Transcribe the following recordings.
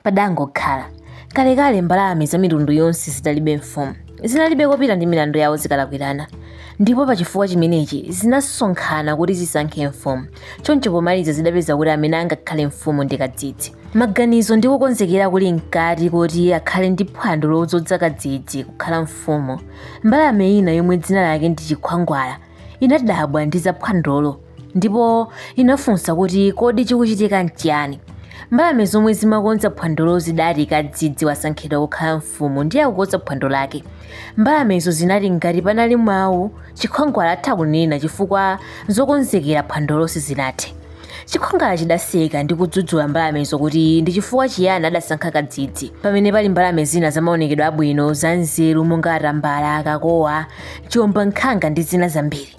Padangokhala. Kalekale mbalame za mitundu yonse zinalibe mfumu. Zinalibe kopita ndi milandu yawo zikalakwirana. Ndipo pa chifukwa chimenechi zinasonkhana kuti zisankhe mfumu. Choncho pomaliza zidapeza kuti amene angakhale mfumu ndi Kadzidzi. Maganizo ndi kukonzekera kuli mkati koti akhale ndi phwando lodzodza Kadzidzi kukhala mfumu, mbalame ina yomwe dzina lake ndi Chikhwangwala inadabwa ndi za phwandolo ndipo inafunsa kuti kodi chikuchitika nchiyani mbalame zomwe zimakonza phwandolo zidati kadzidzi wasankhidwa kukhala mfumu ndiye akukonza phwando lake mbalamezo zinati ngati panali mawu chikhwangwala atha kunena chifukwa zokonzekera phwandolo sizinathe Chikhwangwala chidaseka ndi kudzudzula mbalamezo kuti ndi chifukwa chiyani adasankha kadzidzi pamene pali mbalame zina zamaonekedwe abwino, zanzeru monga atambala, kakowa, chiwombankhanga ndi zina zambiri.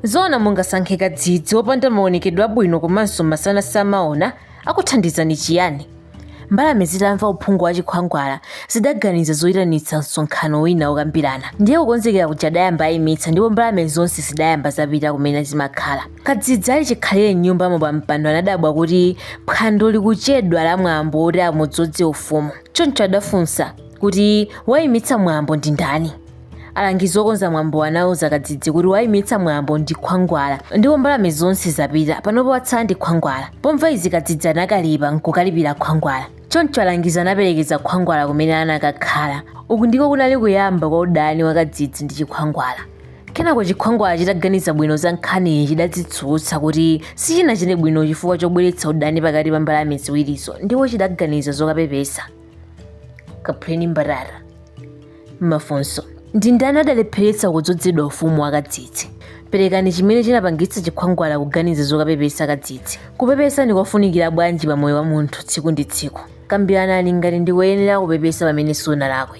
Zoona mungasankhe kadzidzi wopanda maonekedwe abwino komanso masana samaona, akuthandizani chiyani? Mbalame zitamva uphungu wa chikhwangwala, zidaganiza zoitanitsa msonkhano wina wokambirana. Ndiye kukonzekera kuja adayamba aimitsa ndipo mbalame zonse zidayamba zapita kumene zimakhala. Kadzidzi ali chikhalire m'nyumbamo pampando anadabwa kuti phwando likuchedwa la mwambo woti amudzodze ufumu. Choncho adafunsa kuti waimitsa mwambo ndi ndani. alangizi okonza mwambo anauza kadzidzi kuti waimitsa mwambo ndi khwangwala ndipo mbalame zonse zapita panopo kwatsala ndi khwangwala pomva izi kadzidzi anakalipa nkukalipira khwangwala choncho alangizi anaperekeza khwangwala kumene anakakhala uku ndiko kunali kuyamba kwa udani wa kadzidzi ndi chikhwangwala kenako chikhwangwala chitaganiza bwino za nkhaniyi chidadzitsutsa kuti sichinachite bwino chifukwa chobweretsa udani pakati pa mbalame ziwirizo ndipo chidaganiza zokapepesa kaphuleni mbatata Mafunso, Ndi ndani adalepheretsa kudzodzedwa ufumu wa kadzidzi? Perekani chimene chinapangitsa chikhwangwala kuganiza zokapepesa kadzidzi. Kupepesa ndi kofunikira bwanji pa moyo wa munthu tsiku ndi tsiku? Kambiranani ngati ndi koyenera kupepesa pamene sunalakwe.